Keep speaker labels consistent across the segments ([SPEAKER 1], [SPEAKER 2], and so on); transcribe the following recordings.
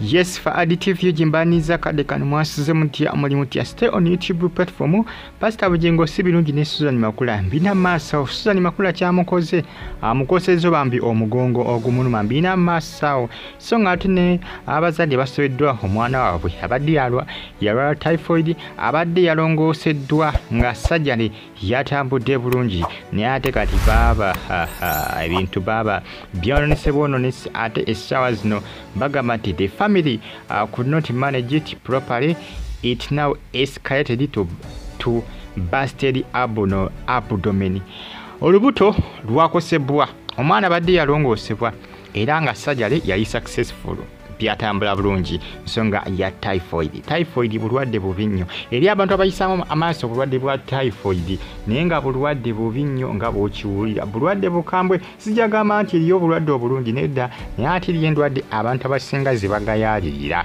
[SPEAKER 1] yes fa additive yo gyembaaniza kadde kano mwasize mutya omulimu tya stay on youtube platform pasita bugingo si birungi ne susan makula mbina maasawo susan makula kyamukoze amukosezo bambi omugongo ogumuluma mbina maasawo so ng'ate ne abazadde basobeddwa omwana waabwe abadde yalwa yalwala typhoid abadde yalongooseddwa nga sajjale yatambudde bulungi naye ate kati baaba ebintu baaba byononese bwononese ate essaawa zino bagamba nti the family uh, could not manage it properly it now escalated to, to basted abno abdomen olubuto lwakosebwa omwana badde yalongoosebwa era nga sajale yali successful byatambula bulungi nsonga ya typhoid typhoid bulwadde bubi nnyo eri abantu abayisaamu amaaso obulwadde bwa typhoid naye nga bulwadde bubi nnyo nga bwokiwulira bulwadde bukambwe sijagamba nti eriyo obulwadde obulungi nedda naye ate eriyo endwadde abantu abasinga zebagayalirira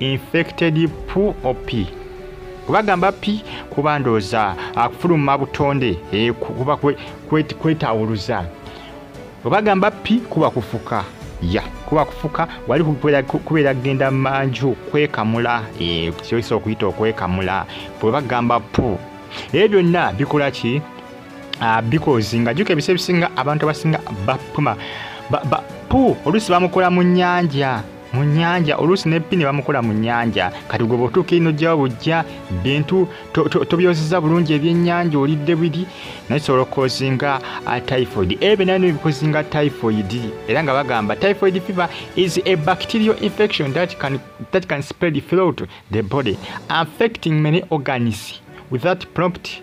[SPEAKER 1] infected pu opi kubagamba pi kuba ndooza akufuluma butonde eh, kuba kwetawuluza obagamba pi kuba kufuka ya kuba kufuka wali kubeera kugenda manju kwekamula eh, kyoyisa okuyita okwekamula bwebagamba pu ebyo byonna bikola ki ah, bikozi nga juka ebisa ebisinga abantu abasinga bapuma pu oluusi bamukola mu nyanja mu nyanja oluusi ne pini bamukola mu nyanja kati gwe bwotuuka ino jjawo bujja bintu tobyozeza bulungi ebyenyanja olidde biri naye sobola okukozinga uh, typhoid ebyo naye nebikozinga typhoid era nga bagamba typhoid fever is a bacterial infection that can, that can spread throughout the body affecting many organs without prompt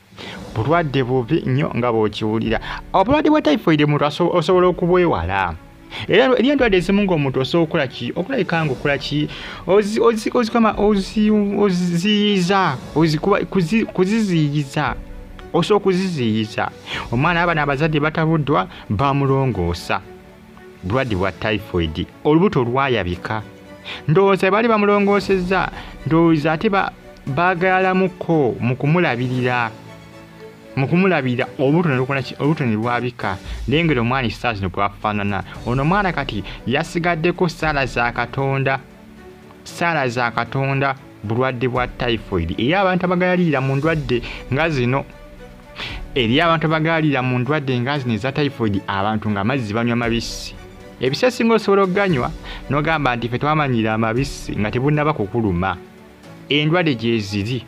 [SPEAKER 1] bulwadde bubi nnyo nga bw'okiwulira obulwadde bwa typhoid omuntu osobola okubwewala era eri endwadde ezimu ng'omuntu osobola okukola ki okulabika nga okola ki ozikama oziyiza kuziziyiza osobola okuziziyiza omwana abana abazadde batabuddwa bamulongoosa bulwadde bwa typhoid olubuto lwayabika ndowooza bali bamulongoosezza ndowooza ate baagalamuko mu kumulabirira mu kumulabirira olubuto ne lwabika nengeri omwana esaa zino bwafaanana ono omwana kati yasigaddeko saala za katonda saala za katonda bulwadde bwa typhoid eri abantu abagayalirira mu ndwadde nga zino eri abantu abagayalirira mu ndwadde nga zino eza typhoid abantu nga amazzi banywa mabisi ebisa esinga osobola okuganywa nogamba nti fe twamanyira amabisi nga tebunaba kukuluma endwadde gyeziri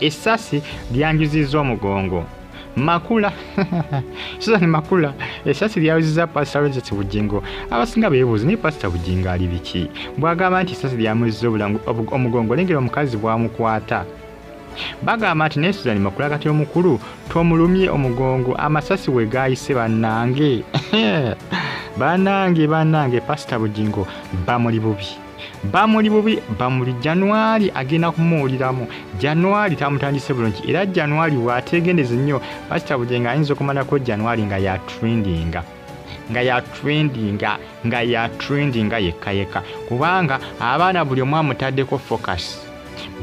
[SPEAKER 1] essasi lyanjuzizza omugongo makula suzan makula esasi lyawuziza pasita rogers bugingo abasinga beebuuzi naye pasita bugingo ali biki bwagamba nti esasi lyamuziza obulangu omugongo lengera omukazi bwamukwata bagamba nti naye suzan makula kati omukulu tomulumye omugongo amasasi we gaayise bannange bannange bannange pasita bugingo bamuli bubi bamuli bubi bamuli januari agenda kumuwuliramu januari tamutandise bulungi era januari wategendeze nnyo pasita bujenga ayinza okumalako januari nga yatrendinga nga yatrendinga nga yatrendinga yekka yekka kubanga abaana buli omu amutaddeko focus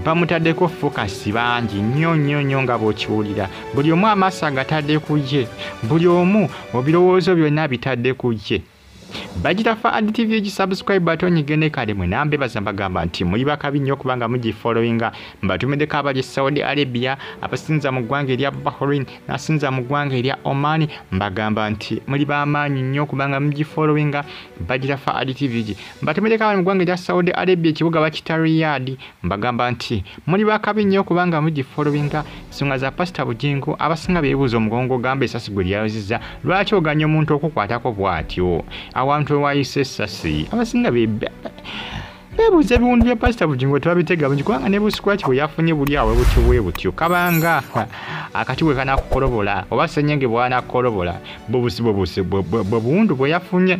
[SPEAKER 1] bamutaddeko fokasi bangi nnyo nnyo nnyo nga bw'okiwulira buli omu amaaso agatadde ku ye buli omu ebirowoozo byonna bitadde ku ye bagitafa ad tv egisubscribe batonyige ne kale mwe nambe baza mbagamba nti muli bakabi nnyo kubanga mugifollowinga mbatumideko abali saudi arabia abasinza mu ggwanga erya bahrain nasinza mu ggwanga erya oman mbagamba nti muli bamaanyi nnyo kubanga mugifollowinga bagitafa ad tv gi mbatumideko abali mu ggwanga erya saudi arabia ekibuga bakita riyadi Mbagamba nti muli bakabi nnyo kubanga mugifolowinga ensonga za pasita Bugingo abasinga beebuuza omugongo ogamba esasi gwe lyayozizza lwaki oganya omuntu okukwatako bw'atyo awantu ewayise essasi abasinga beebuuza ebiwundu bya pasita Bugingo tebabitega bungi kubanga ne busikwaki bwe yafunye buli awo butyo bwe butyo kabanga akati bwe kanakukolobola oba senyenge bwanakukolobola bwe buwundu bwe yafunye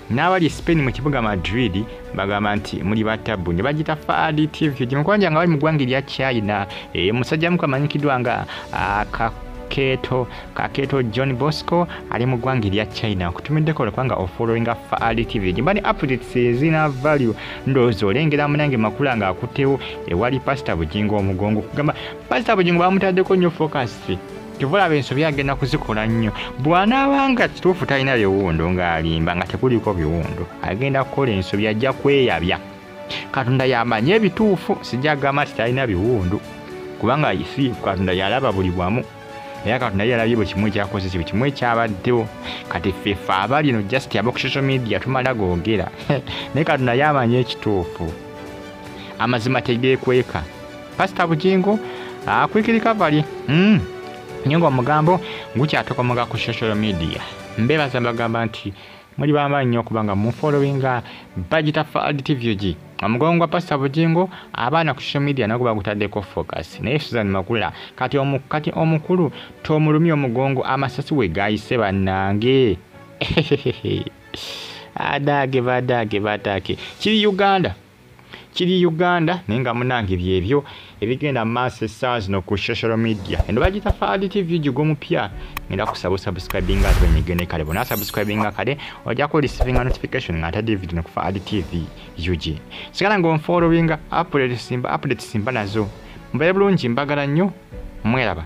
[SPEAKER 1] n'abali e spain mu kibuga madrid bagamba nti muli batabbu ne bagita faadi tv gyemukwanja nga bali mu ggwanga erya china e, musajja muku amanyikiddwa nga akakeeto kakeeto john bosco ali mu ggwanga erya china nkutumiddeko olwekubanga ofollowinga faadi tv gyemba ne updates ezina value ndowooza olengera munange makula nga akuttewo ewali pasita bugingo omugongo kugamba pasita bugingo bamutaddeko nnyo fokasi kyovulaba ensobi agenda kuzikola nnyo bwanaaba nga kituufu talina biwundu ng'alimba nga tekuliko biwundu agenda kukola ensobi ajja kweyabya katonda yamanyi ebituufu sijja kugamba nti talina biwundu kubanga si katonda yalaba buli bwamu era katonda ye yalabye buli kimu ekyakoze kibu kimu ekyabaddewo kati fefe aba lino just aba ku social media tumala googera naye katonda ye amanyi ekituufu amazima tegeekweka pasita bugingo akwikiri kavali mm. nye ngaomugambo gukyatokomoga ku social media mbebaza mbagamba nti muli bamaanyi nnyo okuba nga mufolowinga bagita fald tvg omugongo gwa pasita bugingo abaana ku social media nago bagutaddeko focus naye susan makula kati omu, kati omukulu tomulumya omugongo amasasi we gayise bannange adaage badaage badaage kiri uganda kiri uganda naye nga munange byebyo ebigenda maaso esaawa zino ku social media eno bagita fad tv gigo mupya ngenda kusaba osubscribinga ate wenyigene kale bona subscribinga kale ojako receiving notification nga ate david no ku fad tv ug sigala nga onfollowinga update simba update simba nazo mbaye bulungi mbagala nnyo mweraba